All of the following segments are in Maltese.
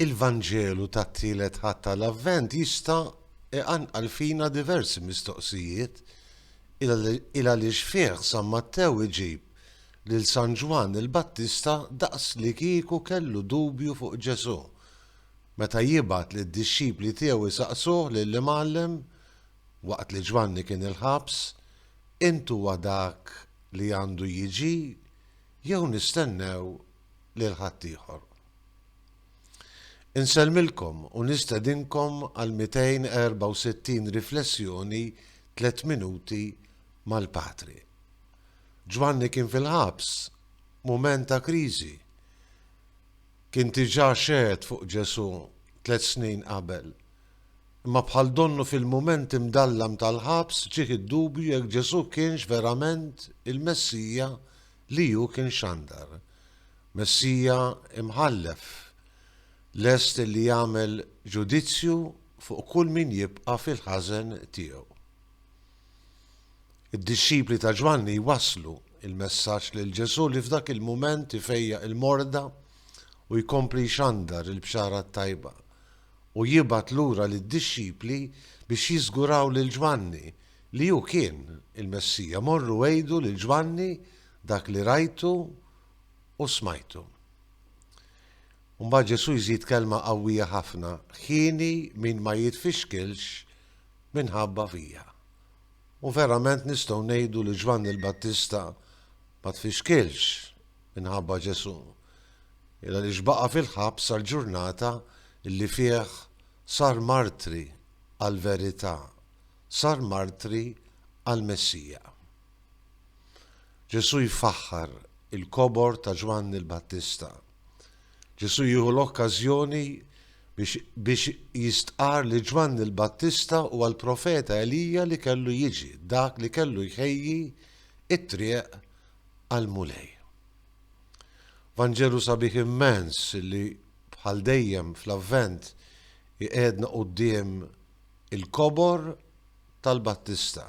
Il-Vanġelu tat-Tielet Ħadd tal-Avvent jista' iqanqal fina diversi mistoqsijiet, il għaliex fih San Mattew iġib lil San Ġwann il-Battista daqslikieku kellu dubju fuq Ġesù, meta jibgħat lid-dixxipli tiegħu jsaqsuh lill-Imgħallem, waqt li Ġwanni kien il-ħabs, Int huwa dak li għandu jiġi Jew nistennew lil ħaddieħor? Insellmilkom u nistedinkom għal 264 riflessjoni tliet minuti mal-Patri. Ġwanni kien fil-ħabs, mument ta' kriżi. Kien diġà xehed fuq Ġesù tliet snin qabel. Imma bħal donnu fil-mument imdallam tal-ħabs ġieh id-dubju jekk Ġesù kienx verament il-Messija li hu kien xandar, Messija imħallef, lest li jagħmel ġudizzju fuq kull min jibqa' fil-ħażen tiegħu. Id-dixxipli ta' Ġwanni jwasslu l-messaġġ lil Ġesù li f'dak il-mument ifejjaq il-morda u jkompli jxandar il-bxara t-tajba, u jibgħat lura lid-dixxipli biex jiżguraw lil Ġwanni Li hu kien il-Messija, morru għidu lil Ġwanni dak li rajtu u smajtu. U mbagħad Ġesù jżid kelma qawwija ħafna, Hieni min ma jitfixkilx minħabba fija. U verament nistgħu ngħidu li Ġwanni l-Battista ma tfixkilx minħabba Ġesù, il għaliex baqa' fil-ħabs sal-ġurnata li fih sar martri għall-verità. sar martri għall-Messija. Ġesù jfaħħar il-kobor ta' Ġwanni l-Battista. Ġesù jieħu l-okkażjoni biex jistqarr li Ġwanni l-Battista huwa l-profeta Elija li kellu jiġi, dak li kellu jħejji it-triq għall-Mulej. Vanġelu sabiħ immens li bħal dejjem fl-avvent iqedna quddiem Il-kobor tal-Battista,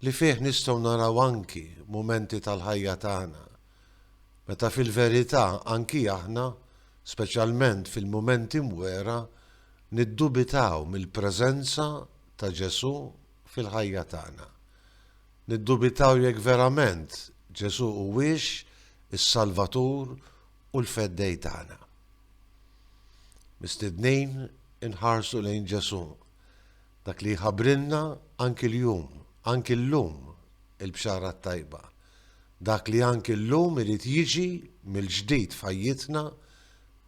li fih nistgħu naraw anki mumenti tal-ħajja tagħna meta fil-verità anki aħna, speċjalment fil-mumenti mwera, niddubitaw mill-preżenza ta' Ġesù fil-ħajja tagħna. Niddubitaw jekk verament Ġesù huwiex is-Salvatur u l-feddej tagħna. Mistednin inħarsu lejn Ġesù, dak li jħabrilna anki l-jum, anki l-lum il-bxara tajba, dak li anki l-lum irid jiġi mill-ġdid fajjitna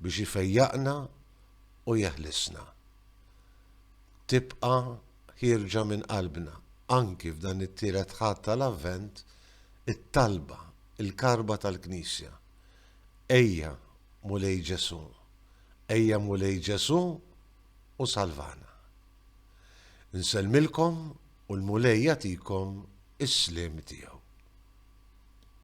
biex ifejjaqna u jeħlisna. Tibqa ħirġa minn qalbna, anki f'dan it-tielet ħadd tal-avvent, it-talba, il-karba tal-Knisja. Ejja, Mulej Ġesù, ejja Mulej Ġesù u salvana. Nsellmilkom u l-Mulej jagħtikom is-sliem tiegħu.